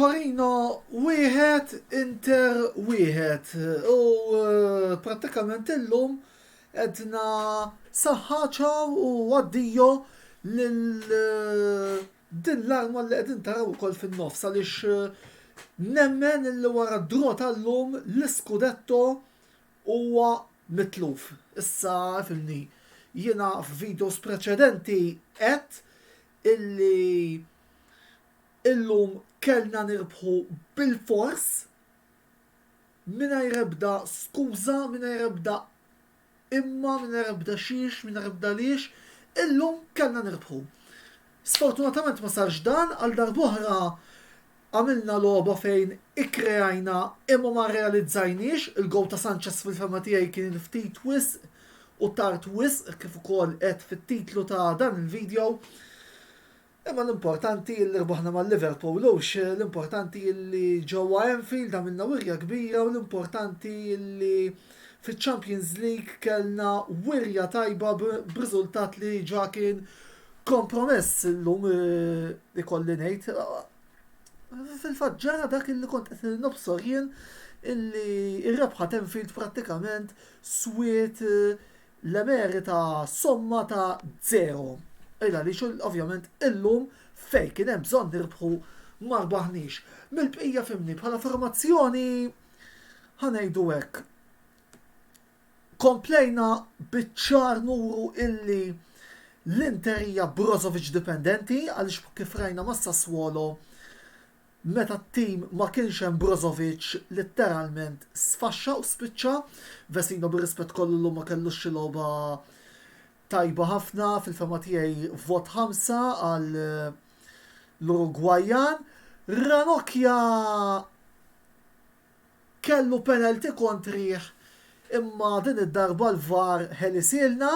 Torino wieħed Inter wieħed u eh, prattikament illum edna saħħaċaw u għaddijo lil eh, Din l-arma li qegħdin taraw ukoll fin-nofs għaliex nemmen li wara d-draw tal-lum l-iskudetto huwa mitluf. Issa fimni, jiena f'videos preċedenti għedt illi illum kellna nirbħu bilfors mingħajr ebda skuża, mingħajr ebda Imma mingħajr ebda xiex, mingħajr ebda għaliex, illum kellna nirbħu. Sfortunatament ma sarx dan, għal darb'oħra għamilna logħba fejn ikkreajna imma ma rrealizzajniex, il-gowl ta' Sanchez fil-fehma tiegħi kien ftit wisq u tard wisq kif ukoll għedt fit-titlu ta' dan il-video. Imma l-importanti illi rbaħna ma' Liverpool hux, l-importanti illi ġewwa Anfield għamilna wirja kbira u l-importanti illi fiċ-Champions League kellna wirja tajba b'riżultat li ġa kien kompromess illum ikolli ngħid. Fil-fatt ġara dak illi kont qed nobsor jien illi r-rebħa t'Anfield prattikament swiet l-emerita somma ta' żero. Il għaliex ovvjament illum fejn kien hemm bżonn nirbħu ma rbaħniex. Mill-bqija fimni bħala formazzjoni ħanejdu hekk. Komplejna biċ-ċar nuru illi l-Inter hija Brozovic dipendenti għaliex kif rajna ma' Sassuolo Meta t-tim ma kienx hemm Brozovic litteralment sfaxxa u spiċċa. Vesino bir-rispett kollu llum ma kellux xi logħba tajba ħafna, fil-fehma tiegħi vot ħamsa għal l-Urugwajjan. Ranocchia kellu penalty kontrih imma din id-darba l-VAR ħelisielna,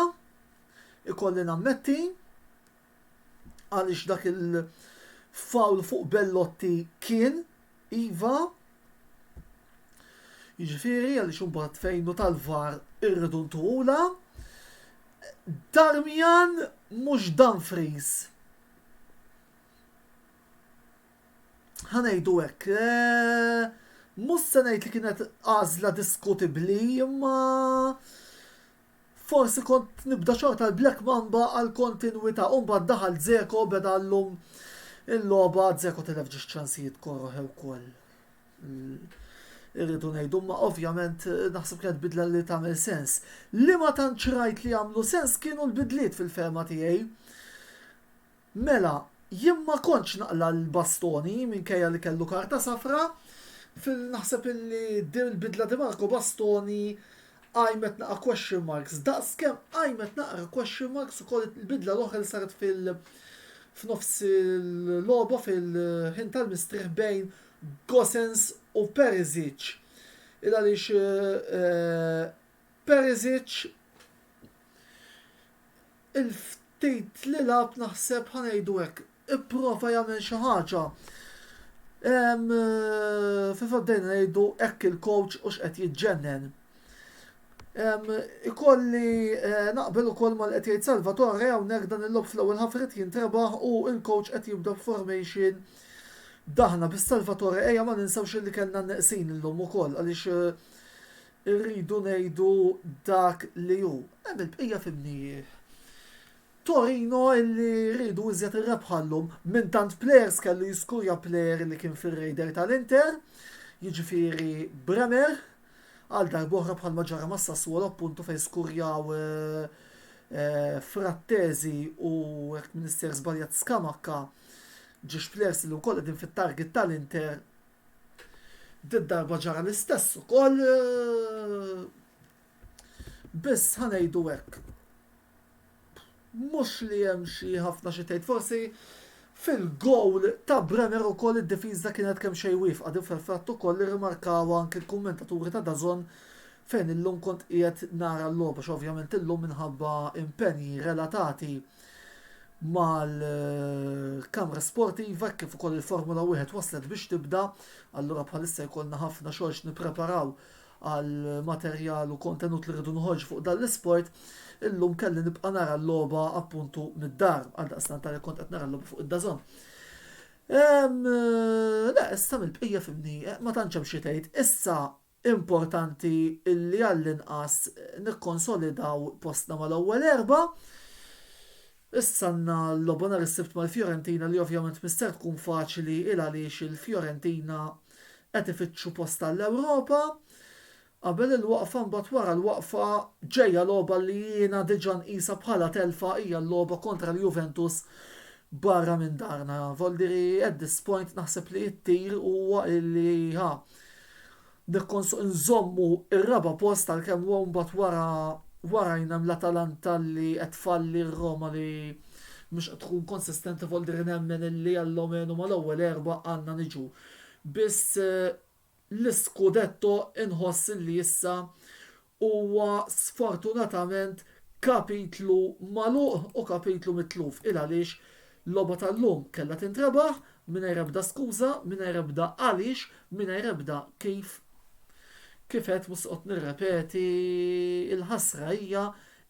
ikolli nammetti. għaliex dak il-fawl fuq Bellotti kien iva jiġifieri għaliex imbagħad fejn u tal-var irridu ntuhula. Darmian mhux Dumfries. Ħanejdu hekk. Eh, mhux se ngħid li kienet għażla diskutibbli imma Forsi kont nibda xorta l-Black Mamba għal kontinwita u mbagħad daħal Dzeko beda llum il-logħba Dzeko tilef ġiex ċansijiet koroh ukoll irridu ngħidu imma ovvjament naħseb kienet bidla li tagħmel sens. Li ma tantx rajt li għamlu sens kienu l-bidliet fil-fehma tiegħi. Mela, jien ma kontx naqla' l-Bastoni minkejja li kellu karta safra. Fil naħseb illi din il-bidla di Marco Bastoni qajmet naqra question marks daqs kemm qajmet naqra question marks ukoll il-bidla l-oħra li saret fil f'nofs il-logħba fil-ħin tal-mistrieħ bejn Gosens u Perisic. Il għaliex Perisic il-ftit li lagħab naħseb ħa ngħidu hekk ipprova jagħmel xi ħaġa. Fil-fatt bdejna ngħidu hekk il-coach u x'qed jiġġennen. Ikolli eh, naqbel ukoll mal qed jgħid Salvatore hawnhekk dan il-lob fl-ewwel ħaf irid jintrebaħ u l-coach qed jibda formation daħna bis Salvatore ejja ma ninsewx li kellna neqsin illum ukoll għaliex eh, Irridu ngħidu dak li hu. Hemm il-bqija f'imnijieh. Torino illi riedu iżjed ir-rebħa llum, minn tant plejers kellu jiskurja plejer li kien fir-radar tal-Inter, jiġifieri Bremer, għal darb'oħra bħalma ġara ma' Sassuolo appuntu fejn skurjaw Frattesi u jekk m'insejr żbaljat Scamacca, ġiex plejers li wkoll qegħdin fit-target tal-Inter Din darba ġara l-istess ukoll biss ħa ngħidu hekk mhux li hemm xi ħafna xi tgħid forsi fil-gowl ta' Brenner ukoll id-difiża kienet kemm xejn wifqa din fil-fatt ukoll irrimarkawha anke l-kummentaturi ta' DAZN fejn illum kont qiegħed nara l-logħba x'ovvjament illum minħabba impenji relatati mal-kamra sportiva hekk kif ukoll il-Formula Wieħed waslet biex tibda, allura bħalissa jkollna ħafna xogħol x'nippreparaw għal materjal u kontenut li rridu noħorġu fuq dan l-isport, illum kelli nibqa' nara l-logħba appuntu mid-dar, għaldaqstant għalhekk kont qed nara l-logħba fuq id-dażon. Ehm, le, issa mill-bqija fimni, eh, ma tantx hemm xi tgħid. Issa Importanti li għall-inqas nikkonsolidaw postna mal-ewwel erbgħa. Issa għandna logħba nhar is-Sibt mal-Fiorentina li ovvjament mhi ser tkun faċli 'l għaliex il-Fiorentina qed ifittxu post għall-Ewropa. Qabel il-waqfa mbagħad wara l-waqfa ġejja logħba li jiena diġà nqisha bħala telfa hija l-logħba kontra l-Juventus barra minn darna. Voldiri at this point naħseb li t-tir huwa li ha. nżommu r-raba' post għalkemm mbagħad wara warajna hemm l-Atalanta li qed tfalli r-Roma li mhux qed tkun konsistenti fuq id-dri nemmen illi almenu mal-ewwel erbgħa għandna niġu. Biss l-iskudetto inħoss illi issa huwa sfortunatament kapitlu magħluq u kapitlu mitluf. Il għaliex l-logħba tal-lum kellha tintrebaħ mingħajr ebda skuża, mingħajr ebda għaliex, mingħajr ebda kif. Kif għedt mhux se noqgħod nirrepeti, il-ħasra hija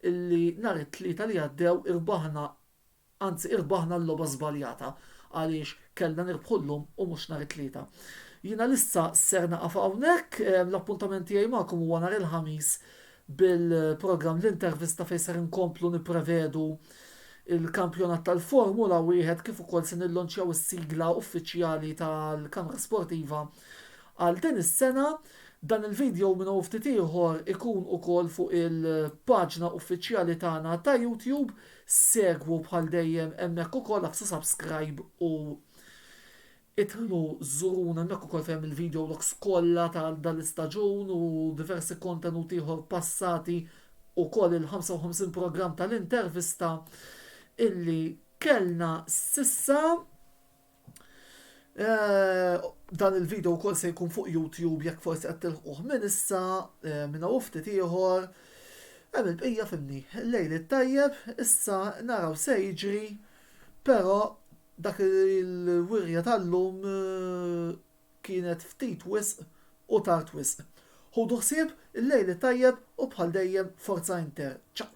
li nhar it-Tlieta li għaddew irbaħna Anzi irbaħna l-logħba żbaljata għaliex kellna nirbħu llum u mhux nhar it-Tlieta. Jien għalissa ser naqaf hawnhekk, l-appuntament tiegħi magħkom huwa nhar il-Ħamis bil-programm L-Intervista fejn ser inkomplu nipprevedu l-kampjonat tal-Formula Wieħed kif ukoll se nillonċjaw is-sigla uffiċjali tal-Kamra Sportiva għal din is-sena. Dan il-video minn hawn ftit ieħor ikun ukoll fuq il-paġna uffiċjali tagħna ta' YouTube. Segwu bħal dejjem hemmhekk ukoll aksu subscribe u itħlu żuruna hemmhekk ukoll fejn il-video logs kollha ta' dan l-istaġun u diversi kontenut ieħor passati ukoll il-55 programm tal-intervista illi kellna sissa. Eh, dan il-video wkoll se jkun fuq YouTube jekk forsi qed tilħquh minn issa eh, minn hawn ftit ieħor. Hemm il-bqija fimni. Lejl it-tajjeb, issa naraw se jiġri, però dak il-wirja tal-lum eh, kienet ftit wisq u tard wisq. Ħudu ħsieb il-lejl it-tajjeb u bħal dejjem Forza Inter, ciao!